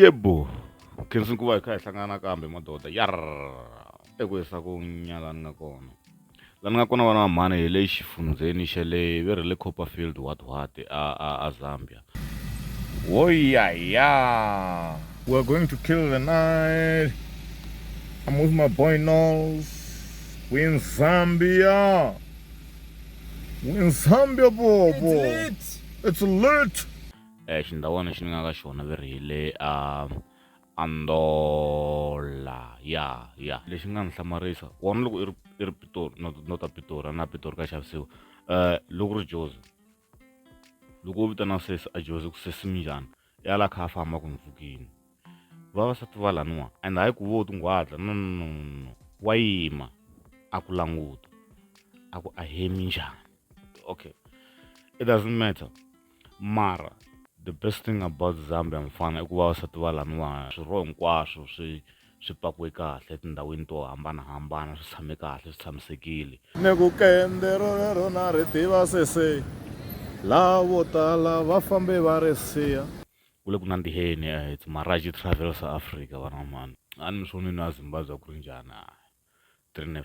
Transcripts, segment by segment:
yebo khensa ku va hi kha hi hlangana kambe madoda yar eku hisa ku nyalani nga kona La ni nga kona vana va mhani hi le xifundzheni xa le ve ri le Copperfield Whatwhat a a a Zambia wo ya ya we are going to kill the night I'm with my boy Knowles we in Zambia we in Zambia bobo it's lit eh xindhawana xi ni nga ka xona ve ri hi le a Andola ya ya lexi nga ni hlamarisa wona loko i ri i ri pitori no no ta pitori a na pitori ka xavisiwa um loko ri jozi loko u vitana sesi a jozi ku sesi minjhani i ala kha a famba ku ni pfukini vavasati va laniwa and hayi ku vo tinghwadla no no no no wa yima a ku languta a ku a he minjhani okay it doesn't matter mara the best thing about Zambia mfana i ku va vasati va laniwa swirho hinkwaswo swi swi pakiwe kahle etindhawini to hambanahambana swi tshame kahle swi tshamisekile ni ku kende rolero na ri tiva sese laha vo tala va fambe va ri siya ku le ku nandziheni eh, it's maraji travel sa africa vana mani a ni mi swonini a zimbabwe ku ri njhani a three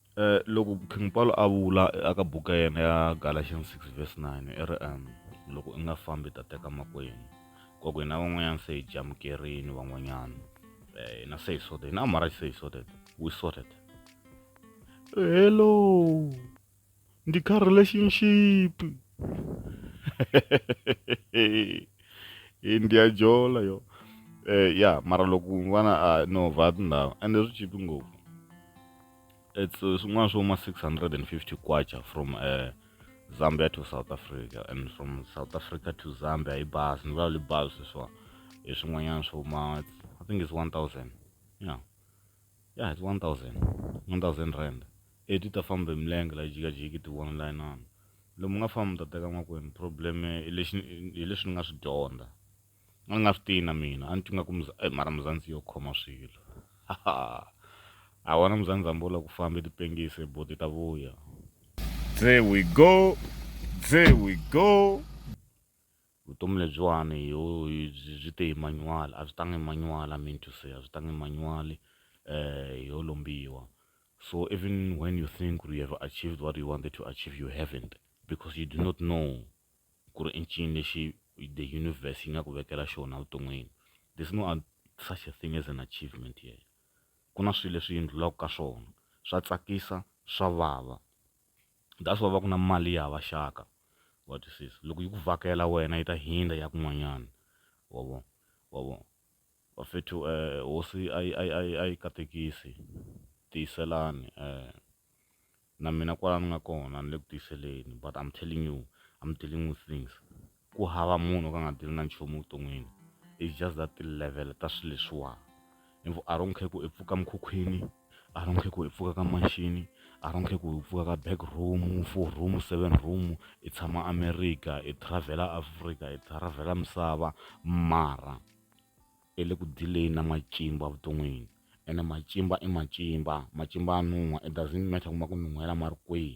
Eh, loko king paulo a vula aka buku ya yena ya galatians 6 verse 9 i ri um loko i nga fambi ta teka makwenu kwaku hina van'wanyana se hi jamukerini van'wanyana eh, hina se hi sorted hina amara se hi sorted we sorted hello Ndi kha relationship. ndi ya jola yo eh ya mara loko n'wana a ah, no va tindhawu ende swi chipi ngopfu it's eh, swin'wana swo ma 650 kwacha from uh, zambia to south africa and from south africa to zambia hi bazi ni vulavuli bazi sweswiwa hi swin'wanyana swo ma i think it's 1000 yeah yeah it's 1000 1000 rand E ti ta famba hi milenge la yi jikajiki ti one layinana lomu nga famba mi ta teka makwenu problem hi lexi hi leswi ni nga swi dyondza a ni nga swi tiyi na mina a ni twi nga ku e mara muzandzi yo khoma swilo a wona muzandzi hambi u la ku famba ti pengise boti ta vuya there we go there we go vutomi lebyiwani byi te hi manual a byi tangi hi manual i mean to say a byi tangi hi manual um yo lombiwa So even when you think you have achieved what you wanted to achieve, you haven't because you do not know ku ri incini lexi the universe yi nga ku vekela xona vuton'wini there's no such a thing as an achievement here ku na swilo leswi yindlulaka ka swona swa tsakisa swa vava that's why va ku na mali ya hava xaka wa twisisa loko yi ku vhakela wena yi ta hindza ya kun'wanyana wa vona wa vona Bafethu eh hosi a yi a yi a yi a yi katekisi tiyiselani eh na mina kwala ni nga kona ni le ku tiyiseleni but I'm telling you I'm dealing with things ku hava munhu ka nga deal na nchumu vuton'wini it's just that ti-level ta swi leswiwa a don't care ku i pfuka mukhukhwini a ri nge ku hi pfuka ka maxini a ri nge ku hi pfuka ka back room four room seven room hi tshama America hi travel-a Africa hi travel-a misava mara i le ku deal-eni na matimba evuton'wini ene matimba i matimba matimba ya nuha it doesn't matter ku ma ku nuhela ma ri kwihi.